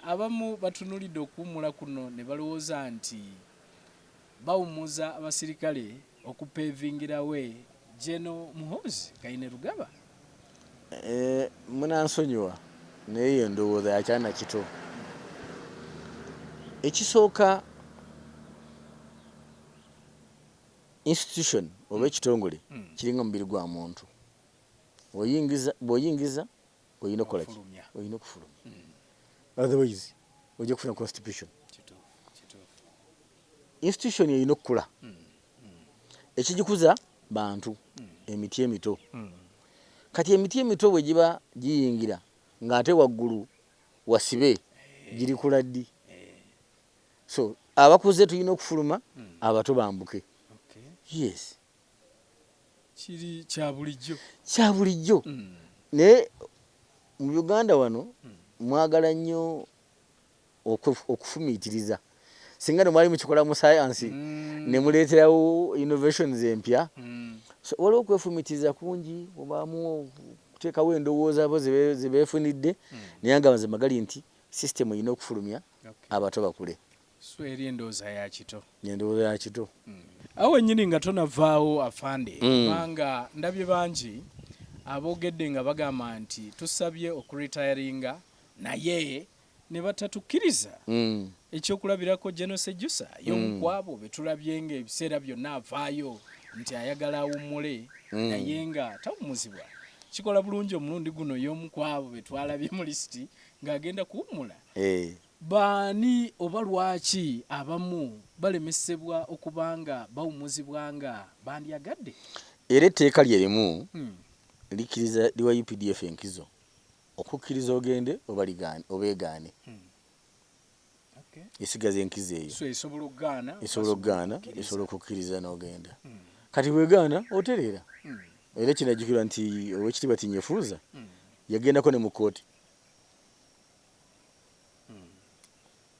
Abamu batunulidde okuwummula kuno ne balowooza nti bawummuza abasirikale okupeevingira we Gen Muhoozi Kainerugaba. Eeh munansonyiwa naye eyo ndowooza ya kyana kito. Ekisooka institution oba ekitongole kiringa mubiri gwa muntu bwoyingiza bwoyingiza. oyina okukola ki oyina okufulumya otherwise ojja kufuna constitution institution eyina okukula hmm. hmm. ekigikuza bantu hmm. emiti emito kati emiti emito bwe giba giyingira ng'ate waggulu wasibe eh. girikula ddi eh. so abakuze tulina okufuluma abato bambuke yes kiri kya bulijjo kya bulijjo mm. naye mu uganda wano mm. mwagala nnyo okufumiitiriza singa nemwali mukikola mu sayansi mm. nemuleeterawo innovations empya mm. so, waliwo okwefumiitiriza kungi obaamu okuteekawo endowooza bo zebeefunidde mm. naye nga mazima gali nti system erina okufulumya okay. abato bakule So eri endowooza ya kito. Endowooza ya kito. Mm. Awo wennyini nga tonavaawo afande mm. kubanga mm. ndabye bangi aboogedde nga bagamba nti tusabye okuritayaringa naye ne batatukkiriza mm. ekyokulabirako genosejusa y'omu mm. kwabo be tulabye nga ebiseera byonna avaayo nti ayagala awummule mm. naye nga tawumuzibwa kikola bulungi omulundi guno y'omu kwabo be twalabye mu lisiti ng'agenda kuwummula eh. Baani oba lwaki abamu balemesebwa okuba nga bawumuzibwa nga bandyagadde? Era etteeka lye limu likkiriza liwa updf enkizo okukkiriza ogende oba egaane esigaza enkizo eyo esobola okugaana esobola okukkiriza n'ogenda kati bwegaana otereera era kinajjukirwa nti owekitiibwa Tinyefuuza yagendako ne mu kkooti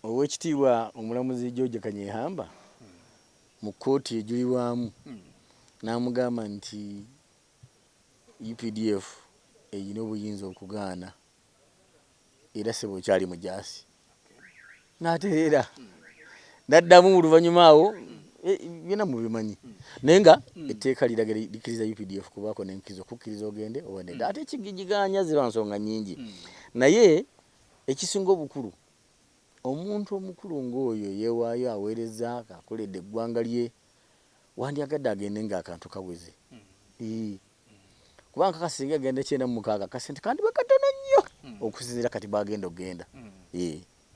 Ow'ekitiibwa omulamuzi George Kanyehamba mu kkooti ejulirwamu n'amugamba nti updf erina obuyinza okugaana era ssebo okyali mujaasi n'atereera. naddamu oluvannyuma awo eh, byona mubimanyi naye nga hmm. etteeka liraga likiriza updf kubaako nenkizo kukkiriza ogende owaneda hmm. ate ekigigiganya ziba nsonga nyingi hmm. naye ekisinga obukulu omuntu omukulu ngaoyo yewaayo aweereza akoledde eggwanga lye wandyagadde agende nga akantu kaweze kubanga kakasinga agenda kyenda mumukaaga kasente kandi bakatono nnyo okusinzira kati bagenda okugenda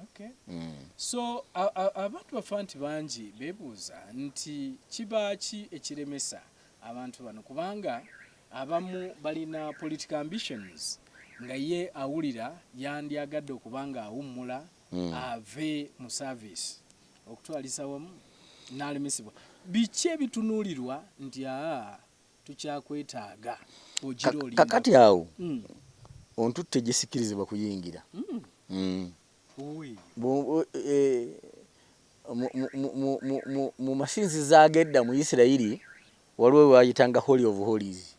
Okay. Mm. So abantu bafa nti bangi bebuuza nti kibaaki ekiremesa abantu bano kubanga abamu balina political ambitions nga ye awulira yandyagadde okuba nga awummula mm. ave mu service okutwalisa wamu n'alemesebwa biki ebitunuulirwa nti aa tukyakwetaaga ogira oli kakati awo mm. ontutte gyesikirizibwa kuyingira mm. mm. e, mu masinzizo agedda mu isirayiri waliwo wayitanga holy of holies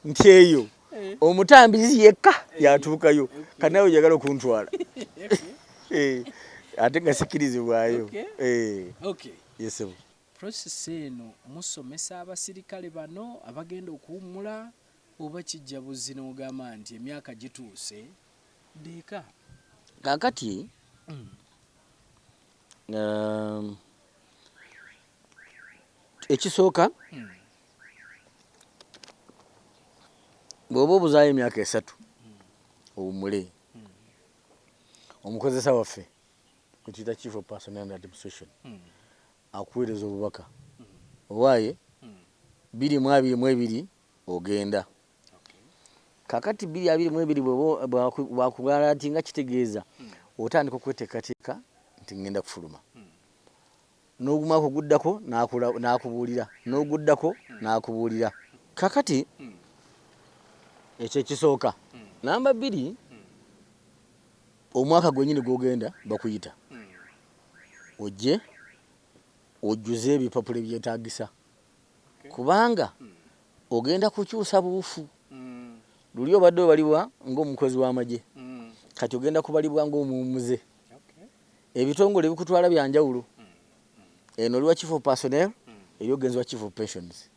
nti eyo eh. omutambizi yekka eh. yatuukayo eh. kanawe jagala okuntwala ate nga sikirizibwayo yesebo Process eno musomesa abasirikale bano abagenda okuwummula oba kijja buzzi n'ogamba nti emyaka gituuse dda eka? Kaakati ekisooka bw'oba obuzaayo emyaka esatu owummule omukozesa waffe mukiyita chief of personnel and administration hmm. akuweereza obubaka hmm. owaaye hmm. biri mu abiri mu ebiri ogenda kakati biri abiri mu ebiri bwakugala nti nga kitegeeza otandika okweteekateeka nti ngenda kufuluma N'ogumwaka oguddako n'akubuulira, n'oguddako n'akubuulira. Kaakati, ekyo ekisooka. Nnamba bbiri, omwaka gwennyini gw'ogenda, bakuyita ojje ojjuze ebipapula ebyetaagisa, kubanga ogenda kukyusa buufu. Luli obadde obalibwa ng'omukozi w'amagye, kati ogenda kubalibwa ng'omuwummuze. Ebitongole ebikutwala bya njawulo. Eno oli wa Chief of Personnel, eri ogenzi wa Chief of Pensions.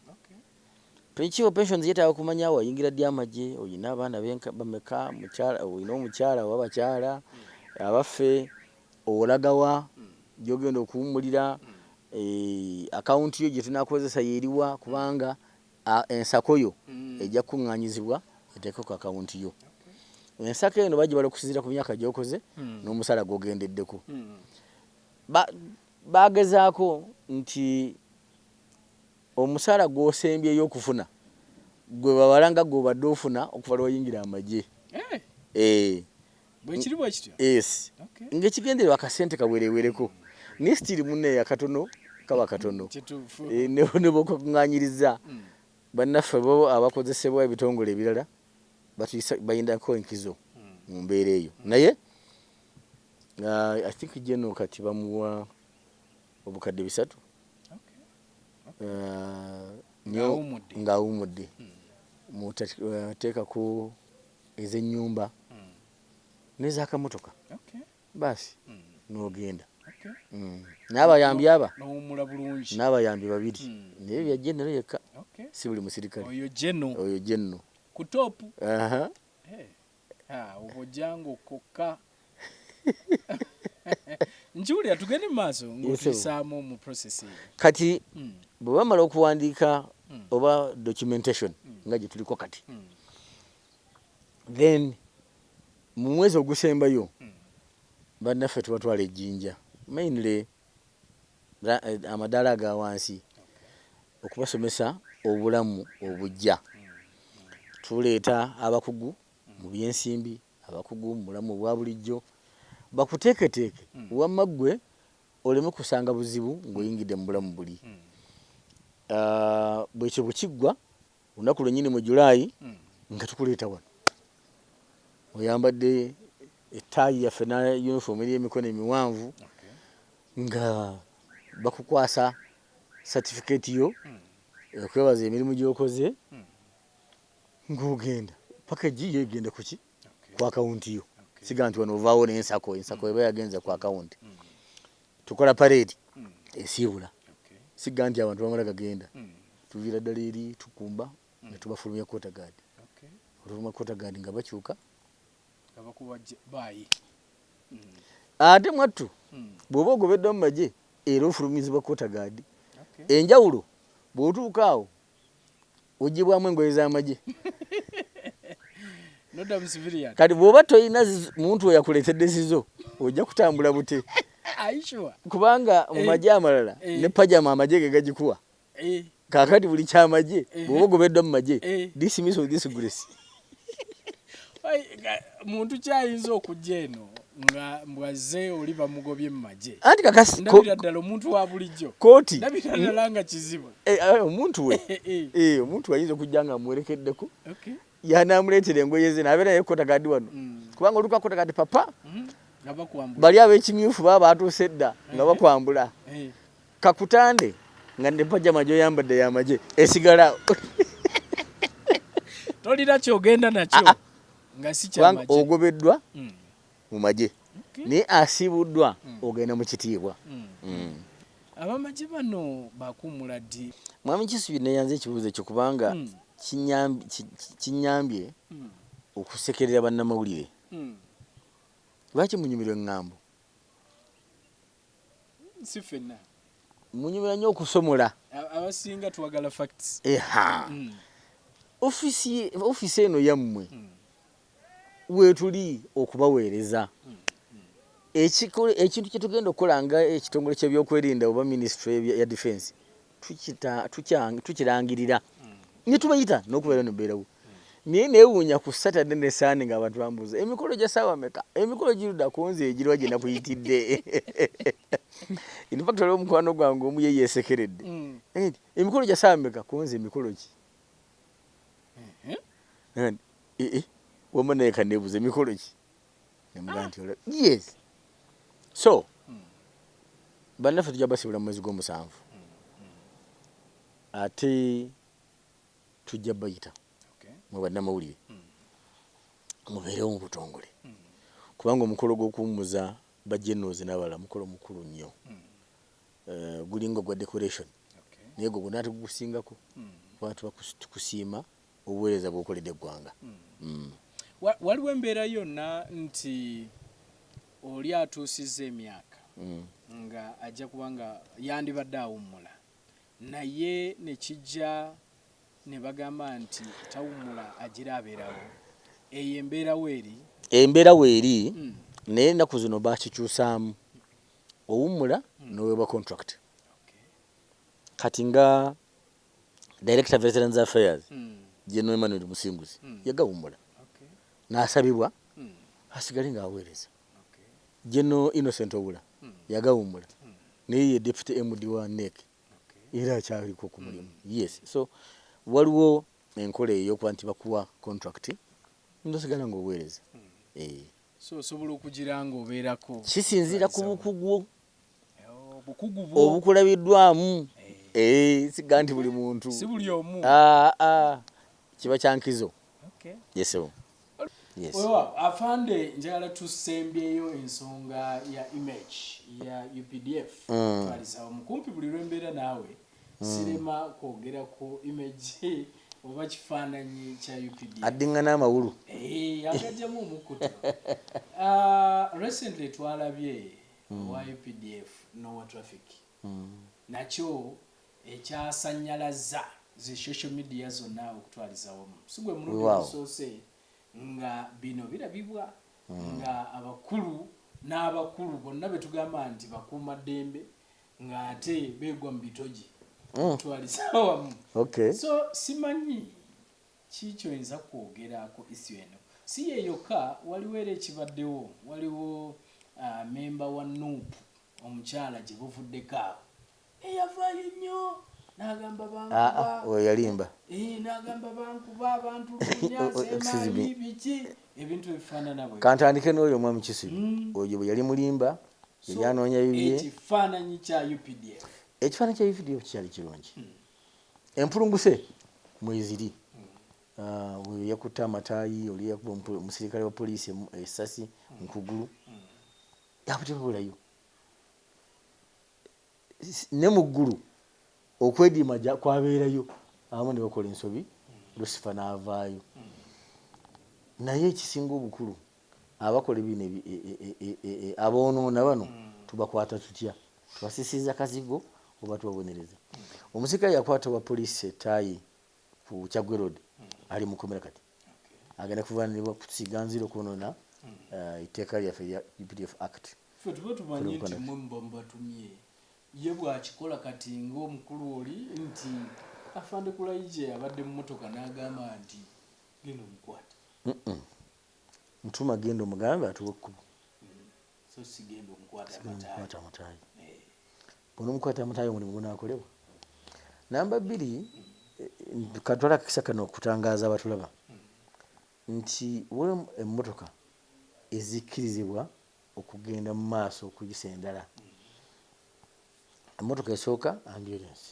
Pe- Chief of Pensions yeetaaga kumanya wayingira ddi amagye, olina abaana benka- bameka, mukyala- olina omukyala oba abakyala, abaffe, olaga wa, gy'ogenda okuwummulira, eh, akawunti yo gye tunaakukozesa y'eriwa kubanga A, Ensako yo ejja kukuŋŋaanyizibwa eteekwe ku akawunti yo. Ensako eno bagibala okusinziira ku myaka gy'okoze n'omusaala gw'ogendeddeko. Ba, baagezaako nti omusaala gw'osembyeyo okufuna gwe babala nga gw'obadde ofuna okuva lwe wayingira amagye. Eeh. bwekiri bwekityo yes okay. ngaekigendererwa akasente kawerewereko naye sitiri muneyo akatono kaba katono eh, nebwokakunganyiriza mm. bannaffe bo abakozesebwa ebitongole ebirala bayindako enkizo mm. mu mbeera eyo mm. naye uh, i think jeno kati bamuwa obukadde bisatu uh, nyo ngaawumudde muteekako ez'ennyumba n'ez'akamotoka baasi n'ogenda n'abayambi aba n'abayambi babiri naye bya genero yekka si buli musirikale oyo genero ku toopu obojjango kokka. nkiwulira tugende mu maaso ngaotulisaamu mu process kati hmm. bwe bamala okuwandiika hmm. oba documentation hmm. nga gye tuliko kati then mu mwezi ogusembayo bannaffe tubatwala ejjinja mainly eh, amadaala aga wansi okubasomesa obulamu obujja tuleeta abakugu mu byensimbi Abakugu mu bulamu obwa bulijjo bakuteeketeeke wamma ggwe oleme kusanga buzibu ng'oyingidde mu bulamu buli. Bwekyo bwe kiggwa olunaku lwennyini mu July nga tukuleeta wano oyambadde ettaayi yaffe na yunifoomu eri emikono emiwanvu nga bakukwasa satifikeeti yo okwebaza emirimu gy'okoze. ng'ogenda package yo egenda kuki ku akawunti yo siga nti wano ovaawo n'ensako ensako eba yagenze ku akawunti mm. tukola pareedi mm. esiibula siga nti abantu bamala gagenda mm. tuviira ddala eri tukumba ne tubafulumya kota gaadi oluvuma kota gaadi nga bakyuka ate mwattu bw'oba ogobeddwa mu magye era ofulumizibwa kota gaadi enjawulo bw'otuuka awo ugibwamu engoye z'amagye kati bw'oba tolina muntu we yakuleetedde zizo ojja kutambula bute kubanga mu eh. magye amalala eh. ne pajama amagye ge gagikuwa eh. kakati buli kyamagye bw'oba ogobeddwa mu magye dismiss of this grace muntu kyayinza okujja eno nga mbwazze oli bamugobye mu magye anti kakasi ndabira ddala omuntu wa bulijjo kooti ndabira hmm? ddala nga kizibu eh, eh, omuntu we eh, omuntu ayinza okujja nga amuwerekeddeko yanaamuleetera engoye ze nabeera naye kota gadi wano hmm. kubanga oluka kota gadi papa hmm? bali ab'ekimyufu baba baatuuse dda nga bakwambula Kakutande nga ne pajama gyoyambadde yamagye esigala tolina kyogenda nakyo ah, ah. nga sikyamagye ogobeddwa mm. mu magye okay. naye asiibuddwa mm. ogenda mu kitiibwa mm. mm. abamagye bano bakuumula ddi mwami kisubi neyanze ekibuuzo ekyo kubanga mm. kinyambye mm. okusekerera bannamawulire mm. lwaki munyumirwa eŋŋambo si fenna munyumira nnyo okusomola abasinga twagala facts eha mm. ofisi ofisi eno yammwe mm. wetuli okubaweereza mm. ekintu kyetugenda okukola nga ekitongole kyebyokwerinda oba ministry ya defense tukita tukyang tukirangirira ne tubayita n'okubeera no beerawo naye newuunya ku Saturday ne Sunday nga abantu bambuuza emikolo gya saawa meka emikolo giruda ku nze egirwa gye nakuyitidde in fact waliwo omukwano gwange omu ye yeesekeredde mm. eh, emikolo gya saawa meka ku nze emikolo ki mm-hmm. eh, eh, wama naye kaneebuuza emikolo ki Ah. yes so hmm. bannaffe tujja basibula mu mwezi gw'omusanvu hmm, hmm. ate tujja bayita mu bannamawulire mubeerewo mu butongole kubanga omukolo gw'okuwummuza bajenoozi n'abalala mukolo mukulu nnyo eh, gulinga ogwa decoration naye gwe gwonna ate gugusingako kuba tuba tukusiima obuweereza bw'okoledde eggwanga. Waliwo embeera yonna nti oli atuusizza emyaka nga ajja kuba nga yandibadde awummula naye ne kijja ne bagamba nti tawummula agira abeerawo, eyo embeera weeri? Embeera weeri naye ennaku zino baakikyusaamu, owummula n'oweebwa kontulakiti. Kati nga director veterans affairs mm. general emmanuel musinguzi mm. yagawummula okay. n'asabibwa mm. asigale ng'aweereza okay. general innocent obula mm. yagawummula mm. naye ye deputy md wa nek okay. era akyaliko ku mulimu mm. yes so waliwo enkola eyokuba nti bakuwa contract nosigala ng'oweereza mm. eh. so osobola okugira ng'obeerako kisinziira ku bukugu obukulabiddwamu eh, siga nti buli muntu ah, ah. kiba kyankizo yesebo afande njagala tusembyeyo ensonga ya image ya updf mm. twalisawo mukumpi buli lwembeera naawe mm. sirema kwogera ku image oba kifaananyi kya updf addingana amawulu eh, agajjamu omukutu ah, recently twalabye owa updf n'owa traffic nakyo ekyasannyalazza zi social media zonna okutwaliza awamu. Si gwe mulundi ogusoose nga bino birabibwa nga abakulu n'abakulu bonna be tugamba nti bakuumaddembe ng'ate beegwa mu bitogi okutwaliza awamu. So simanyi. Ki kyoyinza kwogera ku issue eno? Si ye yokka, waliwo era ekibaddewo, waliwo memba wa nup omukyala gye buvuddeko awo eyavaayo nnyo n'agamba bankuba, n'agamba bankuba, bantulugunya, seemaanyi, biki, ebintu ebifaanana bwe bityo. Kantandike n'oyo omwami Kisilu, oyo bwe yali mulimba, yali anoonya bibye. So ekifaananyi kya updf? Ekifaananyi kya updf kyali kirungi. empulunguse mweziri uh, oyo yakutte amataayi oli yakuba omusirikale wa poliisi esasi eh, mukugulu yakutekabulayo ne mu ggulu okwediima kwabeerayo abamu ne bakola ensobi lusifa n'avaayo naye ekisinga obukulu Abakola ebino aboonoona bano tubakwata tutya? Tubasisiiza kazigo oba tubabonereza? Omusirikale yakwata owa poliisi e Tayi ku Kyaggwe Road ali mu kkomera kati agenda kuvunaanibwa kusiiga nziro kwonoona etteeka lyaffe erya updf Act. Ffe tuba tumanyi nti mmwe muba mubatumye. Ye bw'akikola kati ng'omukulu oli nti Afande Kulayigye abadde mu mmotoka n'agamba nti genda omukwate. Ntuma genda omugambe atuwe ekkubo. So si genda omukwata mutaayi. Bw'onomukwata mutaayi omulimu gunaakolebwa. Namba bbiri, katwale akakisa kano okutangaaza abatulaba nti waliwo emmotoka ezikkirizibwa okugenda mu maaso okuyisa endala. Emmotoka esooka ambyulensi.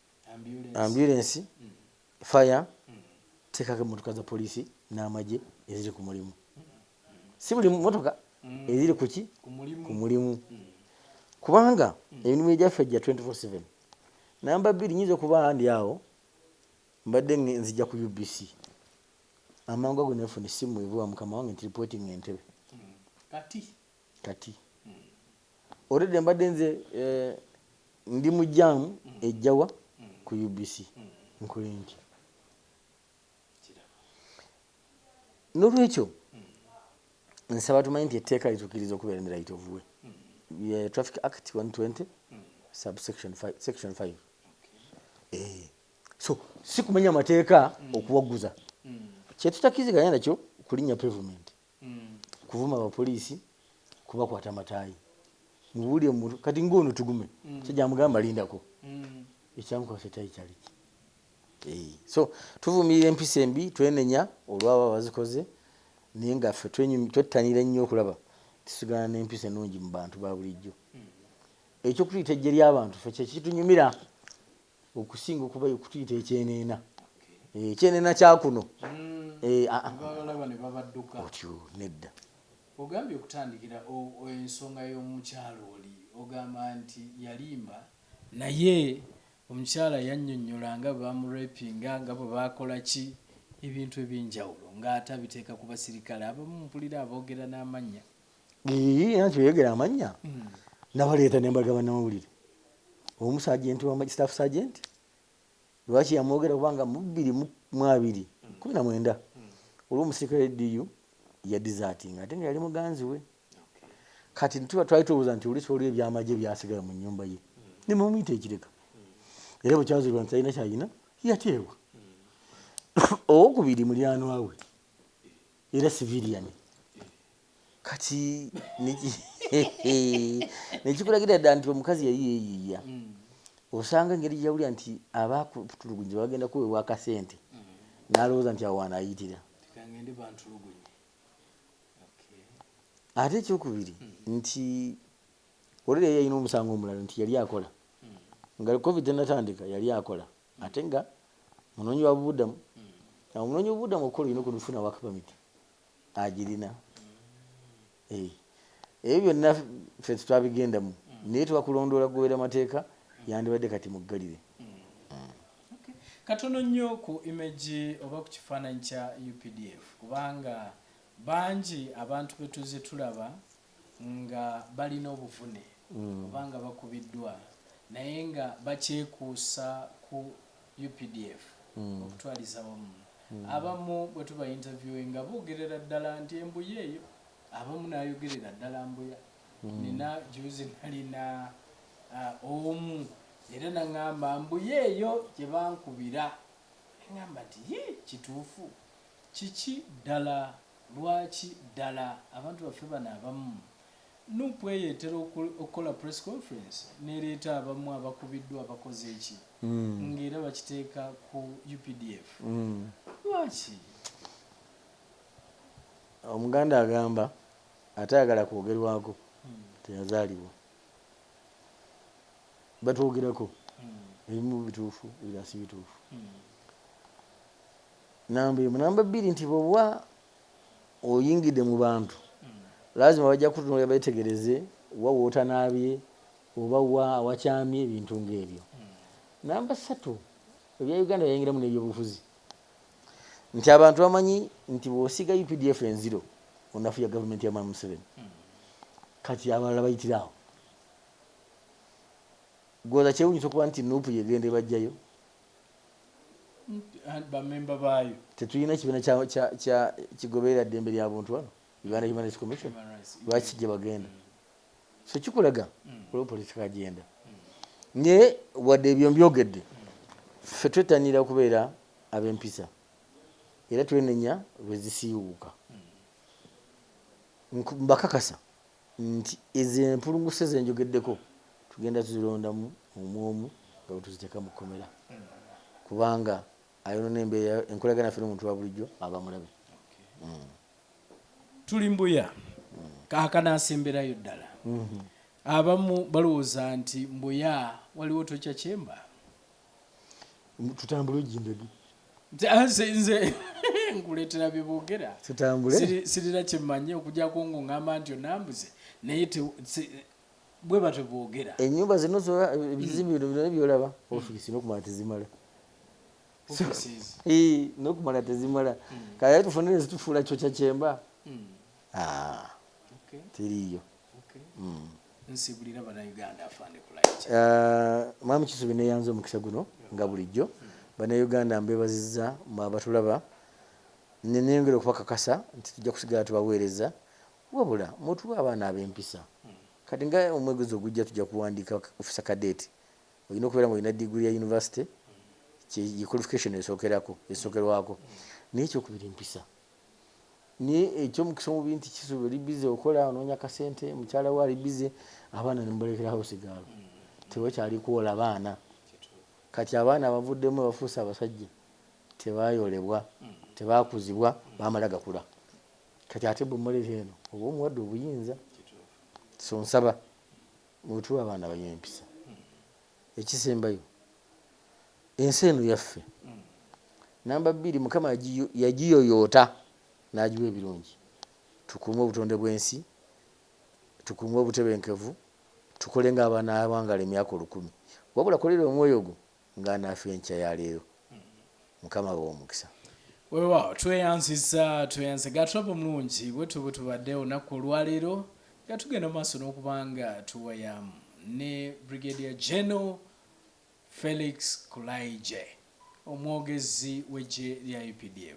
Ambyulensi, faya, teekako emmotoka za poliisi n'amagye eziri ku mulimu. Si buli mmotoka eziri ku ki ku mulimu kubanga emirimu egyaffe gya 24/7. Namba bbiri, nnyinza okuba ndi awo mbadde nzija ku UBC amangu ago ne nfuna essimu evuba mukama wange nti lipootinga Entebbe kati. Already mbadde nze ndi mu jam ejja wa ku UBC nkole ntya? Nolwekyo nsaba tumanye nti etteeka litukiriza okubeera ne right of way ye Traffic Act 120 subsection 5 section 5 eh so sikumenya mateeka okuwaguza kyetutakiziganya nakyo kulinya pavement kuvuma bapoliisi kubakwata mataayi mubuli omuntu kati ng'ono tugume musajja amugamba lindako ekyamukwasa ettaayi kyaliki Eyi. so tuvumirira empisa embi twenenya olwabo abazikoze naye nga ffe twenyumi- twettanira ennyo okulaba tusigala n'empisa ennungi mu bantu ba bulijjo eky'okutuyita eggye ly'abantu ffe kye kitunyumira okusinga okuba kutuyita ekyeneena eh, ekyeneena kyakuno hmm. eh, ah, ah. otyo nedda ogambye okutandikira ensonga y'omukyalo oli ogamba nti yalimba naye omukyala yannyonnyola nga bamurepinga nga bwe bakola ki ebintu eby'enjawulo ng'ate abiteeka ku basirikale abamu mpulira aboogera n'amannya nti oyogera amannya hmm. nabaleeta nembaga banamawulire omu sajenti wamagistaf sajenti lwaki yamwogera kubanga mubiri mwabiri kumi na mwenda olwomusirikale diyu yadizatinga ate nga yali muganzi we kati tuba twali tubuuza nti olisi waliwo ebyamagye byasigala mu nyumba ye nemumuyita ekireka era bwekyazirwa nti talina kyalina yateebwa owokubiri mulyanwawe era civilian kati nekikulagira dda nti omukazi yali yeyiiya mm. osanga engeri gyeyawulira nti abakutulugunyi bagenda kuweebwa akasente mm. nalowooza nti awaana ayitira ate ekyokubiri mm. nti olera yalina omusango omulala nti yali akola nga covid enatandika yali akola Ate nga munoonyi wa bubudamu. Omunoonyi w'obubudamu okukola olina okufuna work permit. Agirina. Eh, ebyo byonna ffe tetwabigendamu naye twakulondoola kugoberera mateeka yandibadde kati muggalire. Katono nnyo ku image oba ku kifaananyi kya updf kubanga bangi abantu be tuzze tulaba nga balina obuvune oba nga bakubiddwa naye nga bakyekuusa ku updf okutwaliza awamu abamu bwetuba interviewinga bogerera ddala nti embuya eyo abamu nayogerera ddala mbuya nina juuzi nalina omu era nangamba mbuya eyo gyebankubira nengamba nti yii kituufu Kiki ddala? Lwaki ddala abantu baffe bano abamu? Nup eyo etera okukola press conference nereeta abamu abakubiddwa abakoze ki nga era bakiteeka ku updf? Lwaki? Omuganda agamba atayagala kwogerwako teyazalibwa. Batwogerako ebimu bituufu ebirala sibituufu. Number emu number bbiri nti bwoba oyingidde mu bantu lazima bajja kukutunuulira beetegereze wa w'otanaabye oba wa awakyamye ebintu ng'ebyo. Number ssatu ebya Uganda yayingiramu n'ebyobufuzi nti abantu bamanyi nti bw'osiiga updf enziro onafuya gavumenti ya Mwami Museveni kati abalala bayitire awo. Gwoza kyewuunyisa okuba nti nup y'egenda ebajjayo. bamemba baayo tetulina kibiina kigoberera ddembe lya buntu wano uganda human rights commission lwaki gye bagenda so kikulaga mm. olwo politika agenda mm. naye wadde ebyo mbyogedde ffe twettanira okubeera ab'empisa era twenenya lwe zisiiwuuka mm. mbakakasa nti ezo empulunguse ze njogeddeko tugenda tuzilondamu omu omu nga bwe tuziteeka mu kkomera kubanga ayonoona embeera, enkolagana yaffe n'omuntu wa bulijjo aba mulabe. Tuli Mbuya, kaakano asemberayo ddala. Abamu balowooza nti Mbuya waliwo tokya kyemba. tutambule ojjindagi ah, nze nkuleetera bye boogera tutambule sirina kye mmanyi okujjako ngo ngamba nti onambuze naye bwe batyo boogera ennyumba zino zola ebizimbe bino byona byolaba hmm. ofiisi nokumala tezimala nokumala tezimala hmm. kale tufunire zitufuula kyokya kyemba hmm. ah, teriiyo Uh, mwami kisubi neyanza omukisa guno nga bulijjo banauganda mbebaziza mwabatulaba neneyongera okubakakasa nti tujja kusigala tubaweereza wabula mutuwa abaana abempisa kati nga omwegezi ogujja tujja kuwandiika ofisa kadeti olina okubeera nga olina diguli ya univesity ye qualification esookerako esookerwako naye ekyokubiri mpisa naye ekyomukisa omubi nti kisubi oli bize okola ononya kasente mukyala we ali bize abaana nemubalekerawo sigaalo tewakyali kuwola baana kati abaana abavuddemu bafuuse abasajja tebayolebwa tebakuzibwa bamala gakula kati ate bwemuleta eno oba omuwadde obuyinza so nsaba mutuwe abaana balina empisa Ekisembayo, ensi eno yaffe. Namba bbiri, Mukama yagiyoyoota n'agiwa ebirungi. Tukuume obutonde bw'ensi, tukuume obutebenkevu, tukole ng'abanaawangaala emyaka olukumi. Wabula kolera omwoyo gwo ng'anaafa enkya ya leero. Mukama abawe omukisa. Wewaawo tweyanziza tweyanziza Gatrop omulungi bwetwo bwetubadde olunaku olwaleero nga tugenda mu maaso n'okuba nga tuwayaamu ne Brigadier General Felix Kulaigye omwogezi w'eggye lya updf.